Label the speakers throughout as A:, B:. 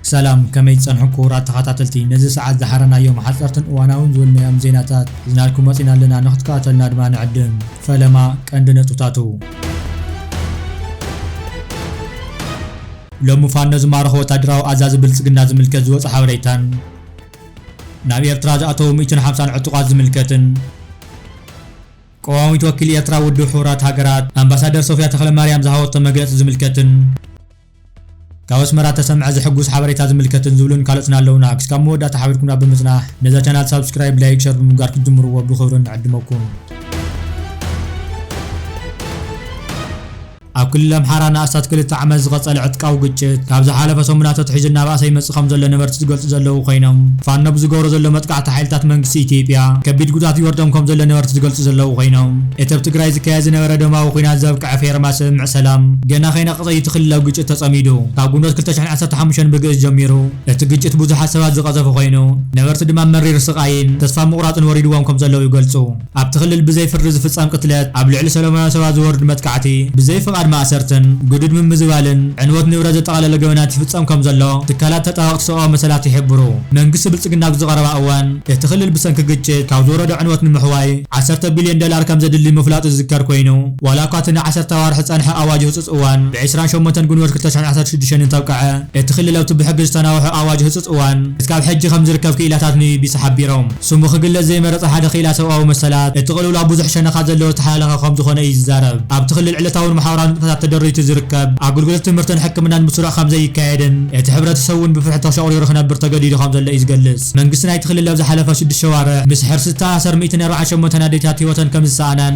A: ሰላም ከመይ ትጸንሑ ክቡራት ተኸታተልቲ ነዚ ሰዓት ዝሓረናዮም ሓጸርትን እዋናውን ዝብልናዮም ዜናታት ዝናልኩም መጺና ኣለና ንክትከታተልና ድማ ንዕድም ፈለማ ቀንዲ ነጥብታቱ ሎሚ ፋኖ ዝማረኾ ወታደራዊ ኣዛዚ ብልፅግና ዝምልከት ዝወፀ ሓበሬታን ናብ ኤርትራ ዝኣተዉ ሚእትን ሓምሳን ዕጡቓት ዝምልከትን ቀዋሚት ወኪል ኤርትራ ኣብ ውድብ ሕቡራት ሃገራት ኣምባሳደር ሶፍያ ተኽለማርያም ዝሃበቶ መግለፂ ዝምልከትን ካብ ኣስመራ እተሰምዐ ዘሕጉስ ሓበሬታ ዝምልከትን ዝብሉን ካልኦትን ኣለዉና። ክስካብ መወዳእታ ሓቢርኩምና ብምጽናሕ ነዛ ቻናል ሳብስክራይብ፣ ላይክ፣ ሸር ብምግባር ክትጅምርዎ ብኽብሪ ንዕድመኩም። ኣብ ክልል ኣምሓራ ንኣስታት ክልተ ዓመት ዝቐጸለ ዕጥቃዊ ግጭት፣ ካብ ዝሓለፈ ሰሙናት ኣትሒዙ እናበኣሰ ይመጽእ ከምዘሎ ነበርቲ ዝገልጹ ዘለዉ ኮይኖም፣ ፋኖ ብዝገብሮ ዘሎ መጥቃዕቲ ሓይልታት መንግስቲ ኢትዮጵያ ከቢድ ጉድኣት ይወርዶም ከምዘሎ ነበርቲ ዝገልጹ ዘለዉ ኮይኖም፣ እቲ ኣብ ትግራይ ዝካየድ ዝነበረ ደማዊ ኲናት ዘብቅዐ ፌርማ ስምምዕ ሰላም ገና ከይነቐጸ እዩ እቲ ክልላዊ ግጭት ተጸሚዱ። ካብ ግንቦት ክልተ ሽሕን ዓሰርተ ሓሙሽተን ብግእዝ ጀሚሩ እቲ ግጭት ብዙሓት ሰባት ዝቐዘፈ ኮይኑ፣ ነበርቲ ድማ መሪር ስቓይን ተስፋ ምቑራጽን ወሪድዎም ከምዘለዉ ይገልጹ። ኣብቲ ክልል ብዘይ ፍርዲ ዝፍጸም ቅትለት፣ ኣብ ልዕሊ ሰለማውያን ሰባት ዝወርድ መጥቃዕቲ፣ ብዘይ ፍቓድ ማእሰርትን ግዱድ ምምዝባልን፣ ዕንወት ንብረት ዘጠቓለለ ገበናት ይፍጸም ከም ዘሎ ትካላት ተጣበቕቲ ሰብኣዊ መሰላት ይሕብሩ። መንግስቲ ብልጽግና ኣብዚ ቀረባ እዋን፣ እቲ ክልል ብሰንኪ ግጭት ካብ ዝወረዶ ዕንወት ንምሕዋይ ዓሰርተ ቢልዮን ዶላር ከም ዘድሊ ምፍላጡ ዝዝከር ኮይኑ፣ ዋላ እኳ እቲ ንዓሰርተ ኣዋርሕ ዝጸንሐ ኣዋጅ ህጹጽ እዋን ብዕስራን ሸሞንተን ግንቦት ክልተ ሽሕን ዓሰርተ ሽዱሽተን እንተብቅዐ፣ እቲ ክልል ኣብቲ ብሕጊ ዝተናውሐ ኣዋጅ ህጹጽ እዋን ክሳብ ሕጂ ከም ዝርከብ ክኢላታት ንቢቢሲ ሓቢሮም። ስሙ ክግለጽ ዘይመረጸ ሓደ ክኢላ ሰብኣዊ መሰላት፣ እቲ ቅልውላው ብዙሕ ሸነኻት ዘለዎ ዝተሓላለኸ ከምዝኾነ እዩ ዝዛረብ። ኣብቲ ክልል ዕለታውን ማሕበራውን ንጥፈታት ተደሪቱ ዝርከብ፣ ኣገልግሎት ትምህርትን ሕክምናን ብስሩዕ ከምዘይካየድን እቲ ሕብረተሰብ'ውን ብፍርሒ ተሸቑሪሩ ክነብር ተገዲዱ ከምዘሎ እዩ ዝገልጽ። መንግስቲ ናይቲ ክልል ኣብ ዝሓለፈ ሽዱሽተ ኣዋርሕ ምስ ሕርሲ ዝተኣሳሰር ሚእትን ኣርባዓን ሸሞንተን ኣዴታት ህይወተን ከምዝሰኣናን፣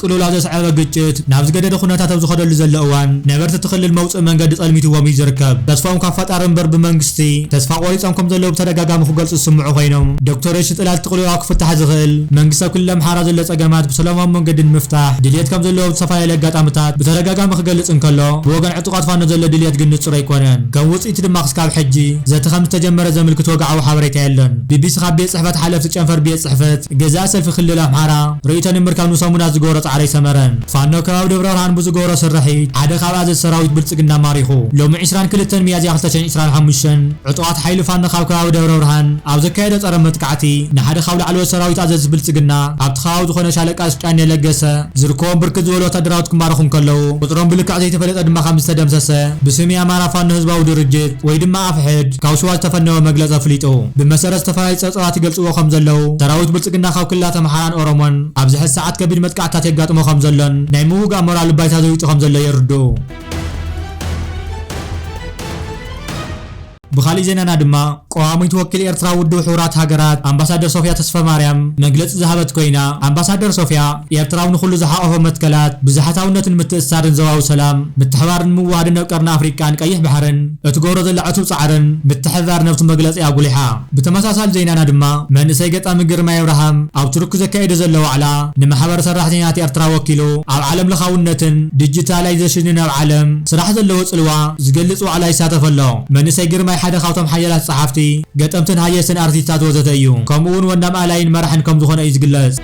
A: ቅልውላው ዘስዐበ ግጭት ናብ ዝገደደ ኩነታት ኣብ ዝኸደሉ ዘሎ እዋን ነበርቲ እቲ ክልል መውፅኢ መንገዲ ፀልሚትዎም እዩ ዝርከብ። ተስፍኦም ካብ ፈጣሪ እምበር ብመንግስቲ ተስፋ ቆሪፆም ከምዘለዉ ብተደጋጋሚ ክገልፁ ዝስምዑ ኮይኖም ዶክተር የሺ ፅላል እቲ ቅልውላው ክፍታሕ ዝኽእል መንግስቲ ኣብ ክልል ኣምሓራ ዘሎ ፀገማት ብሰላማዊ መንገዲ ንምፍታሕ ድልየት ከምዘለዎ ኣብ ዝተፈላለዩ ኣጋጣምታት ብተደጋጋሚ ክገልፅ እንከሎ ብወገን ዕጡቓት ፋኖ ዘሎ ድልየት ግን ንፁር ኣይኮነን። ከም ውፅኢቱ ድማ ክስካብ ሕጂ ዘተ ከምዝተጀመረ ዘምልክት ወግዓዊ ሓበሬታ የሎን። ቢቢሲ ካብ ቤት ፅሕፈት ሓለፍቲ ጨንፈር ቤት ፅሕፈት ገዛኢ ሰልፊ ክልል ኣምሓራ፣ ርእይቶ ንምርካብ ንሰሙናት ዝገበሮ ፃዕሪ ኣይሰመረን። ፋኖ ከባቢ ደብረብርሃን ብዝገበሮ ስርሒት ሓደ ካብ ኣዘዝቲ ሰራዊት ብልፅግና ማሪኹ። ሎሚ ዕስራን ክልተን ሚያዝያ ክልተ ሽሕን ዕስራን ሓሙሽተን ዕጡቓት ሓይሊ ፋኖ ካብ ከባቢ ደብረብርሃን ኣብ ዘካየዶ ፀረ መጥቃዕቲ ንሓደ ካብ ላዕለዎት ሰራዊት ኣዘዝቲ ብልፅግና ኣብቲ ከባቢ ዝኾነ ሻለቃ ስጫኔ ለገሰ ዝርከቦም ብርክት ዝበሉ ወታደራውት ክማረኹ እንከለው ቁፅሮም ብልክዕ ዘይተፈለጠ ድማ ከምዝተደምሰሰ ብስም የኣማራ ፋኖ ህዝባዊ ድርጅት ወይ ድማ ኣፍሕድ ካብ ሽዋ ዝተፈነወ መግለፂ ኣፍሊጡ። ብመሰረት ዝተፈላለዩ ፀብፃባት ይገልፅዎ ከምዘለው ሰራዊት ብልፅግና ካብ ክልላት ኣምሓራን ኦሮሞን ኣብዚ ሕዚ ሰዓት ከቢድ መጥቃዕትታት የጋጥሞ ከምዘሎን ናይ ምውጋእ ሞራሉ ባይታ ዘዊጡ ከምዘሎ የርድኡ። ብኻሊእ ዜናና ድማ ቀዋሚት ወኪል ኤርትራ ኣብ ውድብ ሕቡራት ሃገራት ኣምባሳደር ሶፍያ ተስፈማርያም መግለጺ ዝሃበት ኮይና ኣምባሳደር ሶፍያ ኤርትራ ኣብ ንኹሉ ዝሓቆፈ መትከላት ብዙሓታውነትን ምትእስሳርን ዞባዊ ሰላም ምትሕባርን ምውህሃድን ኣብ ቀርኒ ኣፍሪቃን ቀይሕ ባሕርን እትገብሮ ዘላ ዕቱብ ጻዕርን ምትሕብባር ነብቱ መግለጺኣ ኣጉሊሓ። ብተመሳሳሊ ዜናና ድማ መንእሰይ ገጣሚ ግርማይ ኣብርሃም ኣብ ቱርኪ ዘካይዶ ዘሎ ዋዕላ ንማሕበር ሰራሕተኛታት ኤርትራ ወኪሉ ኣብ ዓለም ለኻውነትን ዲጂታላይዘሽንን ኣብ ዓለም ስራሕ ዘለዎ ጽልዋ ዝገልጽ ዋዕላ ይሳተፍ ኣሎ። መንእሰይ ግርማይ ሓደ ካብቶም ሓያላት ጸሓፍቲ፣ ገጠምትን ሃየስትን ኣርቲስታት ወዘተ እዩ። ከምኡ'ውን ወናም ኣላይን መራሕን ከምዝኾነ እዩ ዝግለጽ።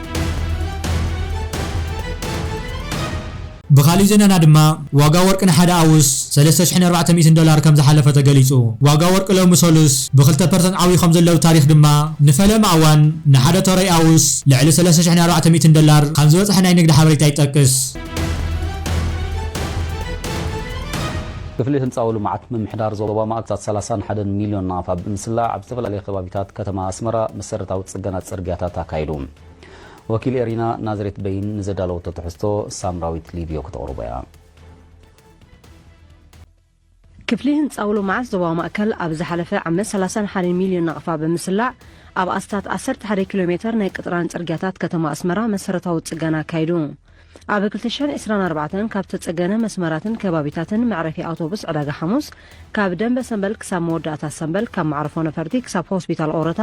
A: ብኻሊእ ዜናና ድማ ዋጋ ወርቂ ንሓደ ኣውስ ሰለስተ ሽሕን ኣርባዕተ ሚእትን ዶላር ከምዝሓለፈ ተገሊፁ። ዋጋ ወርቂ ሎሚ ሰሉስ ብ ክልተ ፐርሰንት ዓብዩ ከምዘሎ ብ ታሪኽ ድማ ንፈለማ እዋን ንሓደ ተረይ ኣውስ ልዕሊ ሰለስተ ሽሕን ኣርባዕተ ሚእትን ዶላር ከምዝበፅሐ ናይ ንግዲ ሓበሬታ ይጠቅስ።
B: ክፍሊ ህንፃዊ ልምዓት ምምሕዳር ዞባ ማእከላት ሰላሳን ሓደን ሚልዮን ናቕፋ ብምስላዕ ኣብ ዝተፈላለየ ከባቢታት ከተማ ኣስመራ መሰረታዊ ፅገና ፅርግያታት ኣካይዱ። ወኪል ኤሪና ናዝሬት በይን ንዘዳለወቶ ትሕዝቶ ሳምራዊት ሊብዮ ክተቕርቦ እያ።
C: ክፍሊ ህንጻዊ ልምዓት ዞባዊ ማእከል ኣብ ዝሓለፈ ዓመት ሰላሳን ሓደን ሚልዮን ናቕፋ ብምስላዕ ኣብ ኣስታት ዓሰርተ ሓደ ኪሎ ሜተር ናይ ቅጥራን ጽርግያታት ከተማ ኣስመራ መሰረታዊ ጽገና ኣካይዱ። ኣብ ክልተ ሽሕን ዕስራን ኣርባዕተን ካብ ዝተጸገነ መስመራትን ከባቢታትን መዕረፊ ኣውቶቡስ ዕዳጋ ሓሙስ፣ ካብ ደምበ ሰምበል ክሳብ መወዳእታ ሰምበል፣ ካብ መዕርፎ ነፈርቲ ክሳብ ሆስፒታል ኦረታ፣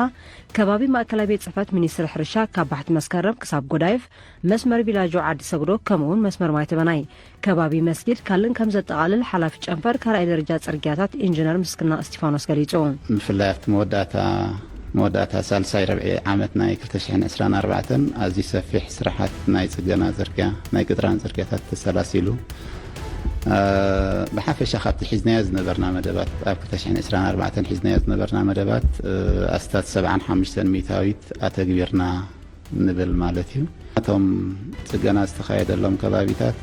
C: ከባቢ ማእከላይ ቤት ጽሕፈት ሚኒስትሪ ሕርሻ ካብ ባሕቲ መስከረም ክሳብ ጎዳይፍ፣ መስመር ቪላጆ ዓዲ ሰግዶ ከምኡ'ውን መስመር ማይተበናይ፣ ከባቢ መስጊድ ካልእን ከም ዘጠቓልል ሓላፊ ጨንፈር ካልኣይ ደረጃ ጽርግያታት ኢንጂነር ምስግና እስቲፋኖስ ገሊጹ። ብፍላይ ኣብቲ
D: መወዳእታ መወዳእታ ሳልሳይ ረብዒ ዓመት ናይ ክልተ ሽሕን ዕስራን ኣርባዕተን ኣዝዩ ሰፊሕ ስራሓት ናይ ፅገና ፅርግያ፣ ናይ ቅጥራን ፅርግያታት ተሰላሲሉ። ብሓፈሻ ካብቲ ሒዝናዮ ዝነበርና መደባት ኣብ ክልተ ሽሕን ዕስራን ኣርባዕተን ሒዝናዮ ዝነበርና መደባት ኣስታት ሰብዓን ሓሙሽተን ሚኢታዊት ኣተግቢርና። ንብል ማለት እዩ። እቶም ፅገና ዝተኻየደሎም ከባቢታት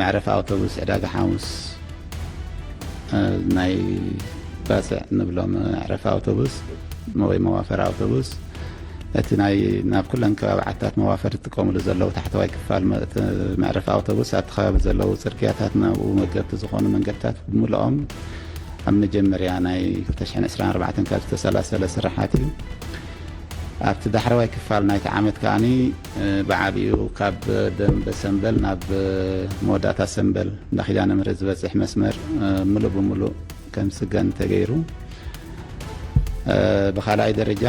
D: መዕረፊ ኣውቶቡስ ዕዳጋ ሓሙስ ናይ ባፅዕ ንብሎም መዕረፊ ኣውቶቡስ ወይ መዋፈሪ ኣውቶቡስ እቲ ናይ ናብ ኩለን ከባቢ ዓታት መዋፈር ዝጥቀምሉ ዘለዉ ታሕተዋይ ክፋል መዕረፊ ኣውቶቡስ ኣብቲ ከባቢ ዘለዉ ፅርግያታት ናብኡ መገብቲ ዝኾኑ መንገድታት ብምልኦም ኣብ መጀመርያ ናይ ክልተ ሽሕን ዕስራን ኣርባዕተን ካብ ዝተሰላሰለ ስርሓት እዩ። ኣብቲ ዳሕረዋይ ክፋል ናይቲ ዓመት ከኣኒ ብዓቢኡ ካብ ደምበ ሰምበል ናብ መወዳእታ ሰምበል እንዳ ኪዳነ ምህረት ዝበጽሕ መስመር ምሉእ ብምሉእ ከም ዝጽገን ተገይሩ። ብኻልኣይ ደረጃ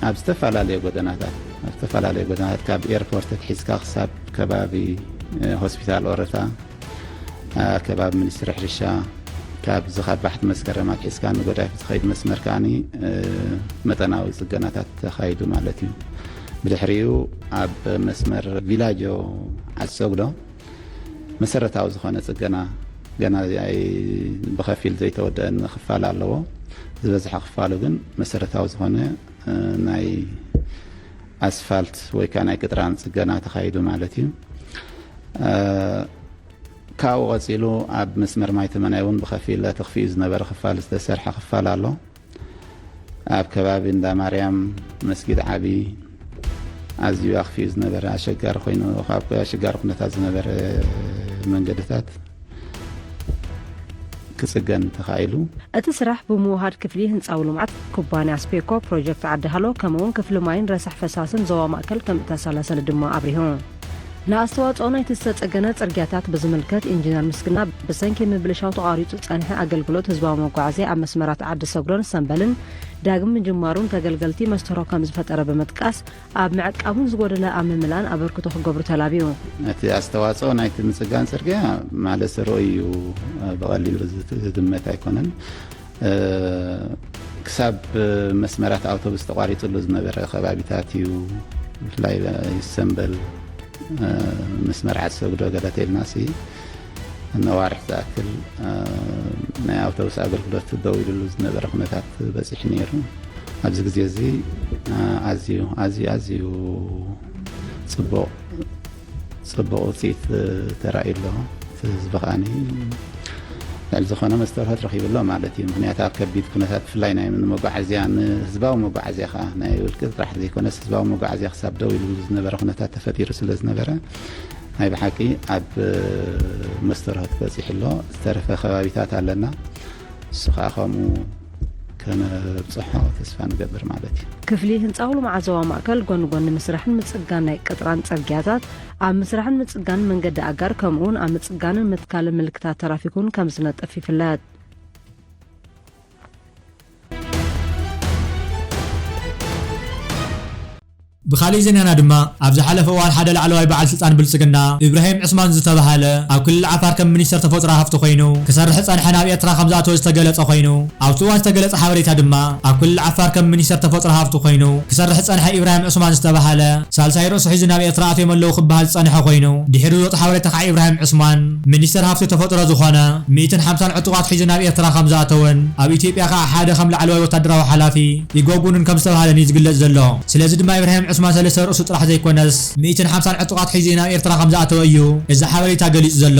D: ኣብ ዝተፈላለዩ ጎደናታት ኣብ ዝተፈላለዩ ጎደናታት ካብ ኤርፖርት ኣትሒዝካ ክሳብ ከባቢ ሆስፒታል ኦረታ ከባቢ ሚኒስትሪ ሕርሻ ካብዚ ካብ ባሕቲ መስከረም ኣትሒዝካ ንገዳይፍ ዝኸይድ መስመር ከዓ መጠናዊ ፅገናታት ተኻይዱ ማለት እዩ ብድሕሪኡ ኣብ መስመር ቪላጆ ዓሰጉዶ መሰረታዊ ዝኾነ ፅገና ገና ብኸፊል ዘይተወደአ ክፋል ኣለዎ ዝበዝሐ ክፋሉ ግን መሰረታዊ ዝኾነ ናይ ኣስፋልት ወይ ከኣ ናይ ቅጥራን ጽገና ተኻይዱ ማለት እዩ። ካብኡ ቀጺሉ ኣብ መስመር ማይ ተመናይ እውን ብኸፊል ተኽፊኡ ዝነበረ ክፋል ዝተሰርሐ ክፋል ኣሎ። ኣብ ከባቢ እንዳ ማርያም መስጊድ ዓቢ ኣዝዩ ኣኽፊኡ ዝነበረ ኣሸጋሪ ኮይኑ ካብ ኣሸጋሪ ኩነታት ዝነበረ መንገድታት ክፅገን ተኻኢሉ። እቲ ስራሕ
C: ብምውሃድ ክፍሊ ህንፃዊ ልምዓት፣ ኩባንያ ስፔኮ፣ ፕሮጀክት ዓዲ ሃሎ ከምኡ እውን ክፍሊ ማይን ረሳሕ ፈሳስን ዞባ ማእከል ከምእተሰላሰለ ድማ ኣብሪሁ። ንኣስተዋፅኦ ናይቲ ዝተፀገነ ፅርጊያታት ብዝምልከት ኢንጂነር ምስግና፣ ብሰንኪ ምብልሻው ተቛሪፁ ዝፀንሐ ኣገልግሎት ህዝባዊ መጓዓዝያ ኣብ መስመራት ዓዲ ሰጉረን ሰምበልን ዳግም ምጅማሩን ተገልገልቲ መስተርሆ ከምዝፈጠረ ብምጥቃስ ኣብ ምዕቃቡን ዝጎደለ ኣብ ምምላን ኣበርክቶ ክገብሩ ተላብዩ። እቲ ኣስተዋፅኦ
D: ናይቲ ምፅጋን ፅርግያ ማለት ዘርኦ እዩ ብቐሊሉ ዝግመት ኣይኮነን። ክሳብ መስመራት ኣውቶቡስ ተቋሪፅሉ ዝነበረ ከባቢታት እዩ ብፍላይ ሰምበል ምስ መርዓት ሰግዶ ገለ ተልና ነዋርሕ ዝኣክል ናይ ኣውቶቡስ ኣገልግሎት ደው ኢሉሉ ዝነበረ ኩነታት በፂሑ ነይሩ። ኣብዚ ግዜ እዚ ኣዝዩ ኣዝዩ ኣዝዩ ፅቡቕ ፅቡቕ ውፅኢት ተራእዩ ኣሎ እቲ ህዝቢ ከዓኒ ልዕሊ ዝኾነ መስተርሆት ረኺቡ ኣሎ ማለት እዩ ምክንያቱ ኣብ ከቢድ ኩነታት ብፍላይ ናይ መጓዓዝያ ንህዝባዊ መጓዓዝያ ከዓ ናይ ውልቂ ጥራሕ ዘይኮነስ ህዝባዊ መጓዓዝያ ክሳብ ደው ኢሉ ዝነበረ ኩነታት ተፈጢሩ ስለ ዝነበረ ናይ ብሓቂ ኣብ መስተርሆት በፂሑ ኣሎ ዝተረፈ ከባቢታት ኣለና እሱ ከዓ ከምኡ ከነብፅሖ ተስፋ ንገብር ማለት እዩ ክፍሊ ህንፃ ልምዓዘዋ
C: ማእከል ጎኒ ጎኒ ምስራሕን ምፅጋን ናይ ቅጥራን ፅርግያታት ኣብ ምስራሕን ምፅጋንን መንገዲ ኣጋር ከምኡ እውን ኣብ ምፅጋንን ምትካልን ምልክታት ተራፊክ እውን ከም ዝነጥፍ ይፍለጥ
A: ብኻሊእ ዜናና ድማ ኣብ ዝሓለፈ እዋን ሓደ ላዕለዋይ በዓል ስልጣን ብልፅግና ኢብራሂም ዑስማን ዝተብሃለ ኣብ ክልል ዓፋር ከም ሚኒስትር ተፈጥሮ ሃፍቲ ኮይኑ ክሰርሕ ዝፀንሐ ናብ ኤርትራ ከምዝኣተወ ዝተገለፀ ኮይኑ ኣብቲ እዋን ዝተገለፀ ሓበሬታ ድማ ኣብ ክልል ዓፋር ከም ሚኒስትር ተፈጥሮ ሃፍቲ ኮይኑ ክሰርሕ ዝፀንሐ ኢብራሂም ዑስማን ዝተብሃለ ሳልሳይ ርእሱ ሒዙ ናብ ኤርትራ ኣትዮም ኣለዉ ክበሃል ዝጸንሐ ኮይኑ፣ ድሒሩ ዝወጽእ ሓበሬታ ከኣ ኢብራሂም ዑስማን፣ ሚኒስተር ሃብቲ ተፈጥሮ ዝኾነ፣ ሚእትን ሓምሳን ዕጡቓት ሒዙ ናብ ኤርትራ ከም ዝኣተወን፣ ኣብ ኢትዮጵያ ከኣ ሓደ ከም ላዕለዋይ ወታደራዊ ሓላፊ ይጎጉኑን ከም ዝተባህለን እዩ ዝግለጽ ዘሎ። ስለዚ ድማ ኢብራሂም ዑስማን ሰለስተ ርእሱ ጥራሕ ዘይኮነስ፣ ሚእትን ሓምሳን ዕጡቓት ሒዙ እዩ ናብ ኤርትራ ከም ዝኣተወ እዩ እዚ ሓበሬታ ገሊጹ ዘሎ።